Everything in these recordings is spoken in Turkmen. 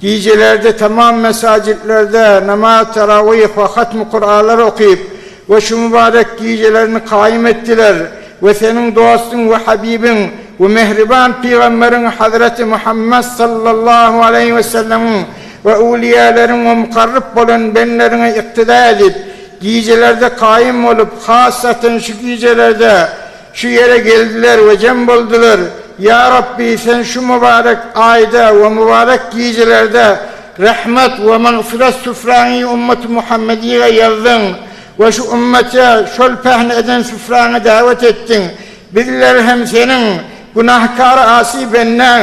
Gijelerde tamam mesajitlerde namaz tarawih we hatmy Kuralary okyp we şu mübarek gijelerini kaýym etdiler we seniň dostuň we habibiň we mähriban pygamberiň hazreti Muhammet sallallahu aleýhi we sellemiň we öwliyälerin we mukarryp bolan benleriňe yktyda edip gijelerde kaýym bolup hassaten şu gijelerde Şu ýere geldiler we jem boldular. Ýa Rabbi, Sen şu mübarek aýda we mübarek gijelerde Rahmet we magfyrat süfräňi ümmet-i Muhammediýge ýazdyň we şu ümmete şol pähim eden süfräňe dawet etdiň. Bizler hem Seniň, günahkar asy bendäň.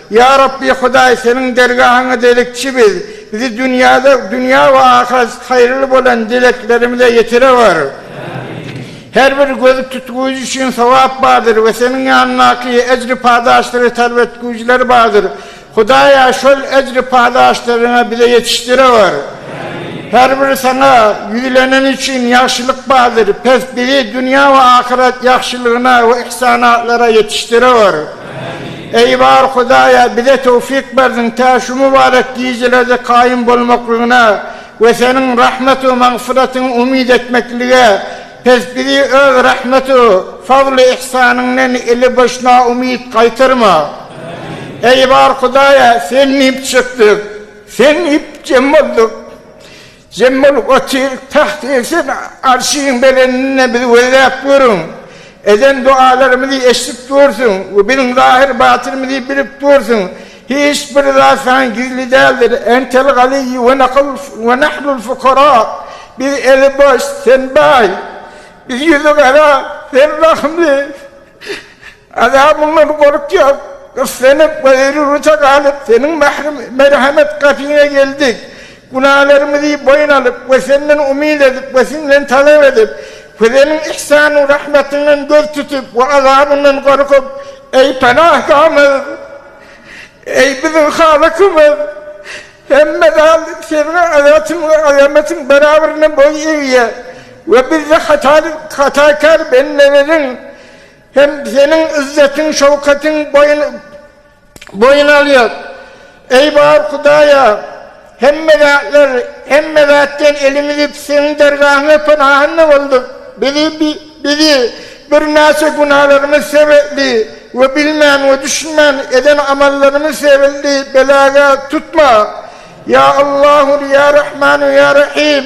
Ýa Rabbi Hudaý, Seniň dergahyňa delikçi biz, bizi dünýäde, dünýä we ahyret haýyrly bolan dileklerimize ýetirewer. Her bir gözi tutgujy üçin sogap bardyr we Seniň ýanyndaky ejri padaşlary talap etgüjiler bardyr. Hudaýa, şol ejri padaşlaryňy bize ýetişdirewer. Her bir Saňa ýüzleneni üçin ýagşylyk bardyr, pes bizi dünýä we ahyret ýagşylygyna we ihsanatlara ýetişdirewer. Eý bar Hudaýa bize towfik berdiň tä şu mübarek gijelerde kaýym bolmaklygyna we seniň rahmet we magfyratyňy umyt etmeklige pes bizi öz rahmet we fazly ihsanyňdan eli boş na umyt gaýtarma. Eý bar Hudaýa sen diýip çykdyk sen diýip jem boldyk Jemmal gotyr tagt egsin arşyň belendinde bizi gözläp görüň. Eden dogalarymyzy eşdip dursuň we biziň zahyr batynymyzy bilip dursuň. Hiç bir zat saňa gizli däldir. Entel ganiýy we nakl we nahnul fukara. Biz eli boş, sen baý. Biz ýüzi gara, sen rahymly. Azabyndan gorkýas, gyssanyp, gaýrurta galyp, Seniň mährim-merhemet gapyňa geldik. Günälerimizi boýun alyp we Senden umyt edip we Siňden talap edip, Seniň ihsanu-rahmetiňden göz tutup we azabyndan gorkup, Eý Panahgamyz! Eý biziň Halykymyz! Hemme zat Seniň azatyň we azamatyň barabaryna boý egýär we biz-de hatakär bendeleriň. Hem seniň yzzetiň-şöwketiň boýun alýar. Eý, bar Hudaýa, hemme zatlar, hemme zatdan elimizi Seniň dergahyňa pynahanda bolduk. Bizi birnäçe günalarymyz sebäpli we bilmän we düşünmän eden amallarymyz sebäpli beläge tutma. Ýa Allahu, Ýa Rahmanu, Ýa Rahym!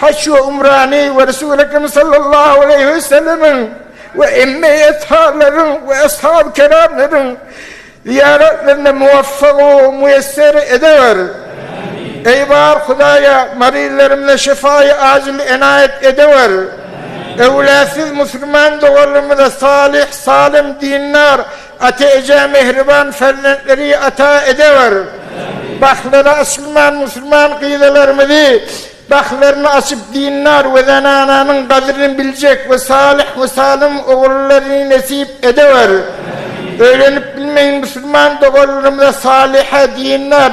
Haç we umrany we Resul-i Ekrem sallallahu aleýhi we sellemiň we emme etharlaryň we eshab-y keramlaryň zyýaratlaryny muwaffak we muýesser edewer. Eý bar Hudaýa maryzlarymyza şyfaýy ajyl enaýat edewer. Öwlatsiz musulman doganlarymyza salyh, salym, dindar, Ata eje mähriban ferzentlary ata edewer. Bahlary açylman musulman gyzalarymyzy bahlaryny açyp dindar we zenananyň gadryny biljek we salyh we salym ogullaryny nesip edewer. Öýlenip bilmeýin musulman doganlarymyza salyha dindar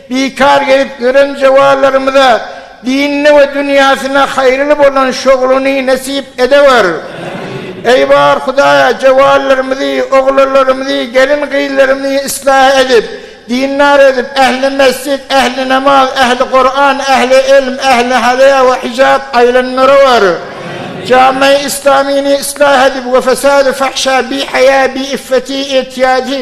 Bikar gelip ýören zewanlarymyza dinine we dünýäsine haýyrly bolan şogluny nesip edewer. Eý bar Hudaýa zewanlarymyzy, oglanlarymyzy, gelin gyzlarymyzy yslah edip, dindar edip, ähli mesjit, ähli namaz, ähli Kuran, ähli ilm, ähli haýa we hijap aýlandyrawer. Jami-i Islamyny yslah edip we fesady fahşa, bihaýa, biiffeti, etiýady,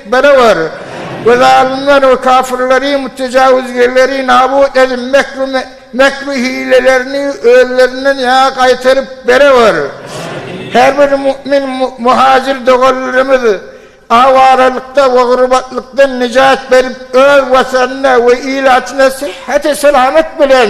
Barabar, we zalymlary we kafirleri, mütejawizgerleri nabut edip, mekr we mekr we hilelerini özlerinden ýaňa gaýtaryp barabar. Her bir mu'min muhajir doganlarymyz awaralykda we gurbatlykdan nijat berip, öz Watanynda we ilatyna syhhati salamat bilen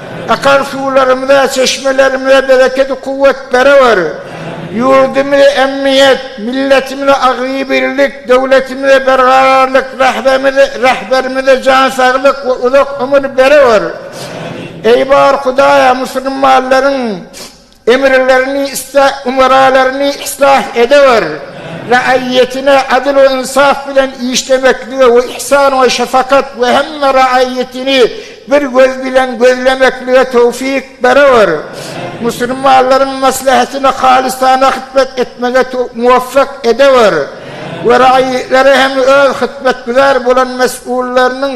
Akan suwlarymyza, çeşmelerimize berekedi-kuwwet berewer! Ýurdumyza emniýet, milletimize agzybirlik, döwletimize berkararlyk, Rahberimize jan saglyk we uzak ömür berewer! Eý bar Hudaýa, musulmanlaryň Emirlerini, ümeralaryny islah edewer. Raýatyna adyl we ynsaf bilen işlemeklige we ihsan we şefakat we hemme raýatyny bir göz bilen gözlemeklige towfyk berewer. Musulmanlaryň maslahatyna halysana hyzmat etmege muwafak edewer we raýatlary hem öz hyzmatgüzar bolan mes'ullarynyň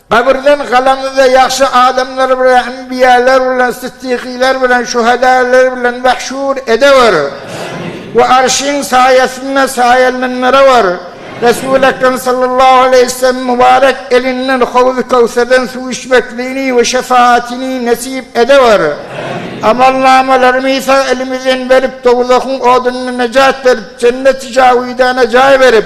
Gabyrdan galanyňyzda ýagşy adamlar bilen, enbiýalar bilen, sytdykylar bilen, şuhadalar bilen mahşur edewör. We Arşyň saýasynda saýalandyrawör. Resul Ekrem sallallahu aleýhi wesellemiň mubarek elinden Howzy Köwserden suw içmekligini we şefaatini nesip edewör. Amalnamalary sag elimizden berip, dowzahyň odundan nejat berip, jenneti jawidana jaý berip,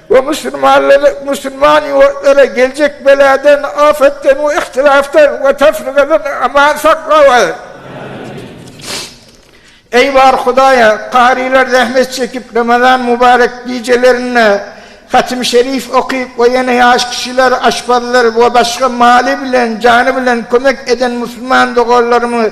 Bu musulmanlary musulman ýurtlara geljek beladan, afatdan we ihtilafdan we tefrikadan aman saklaway. Eý bar Hudaýa, karylar zähmet çekip Ramazan mubarek gijelerinde Hatim Şerif okyp we ýene ýaş kişiler, aşpazlar we başga maly bilen, jany bilen kömek eden musulman doganlarymyz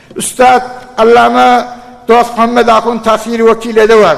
Üstad Allama Dostmuhammet Ahun Tasiri Wekil Edewan.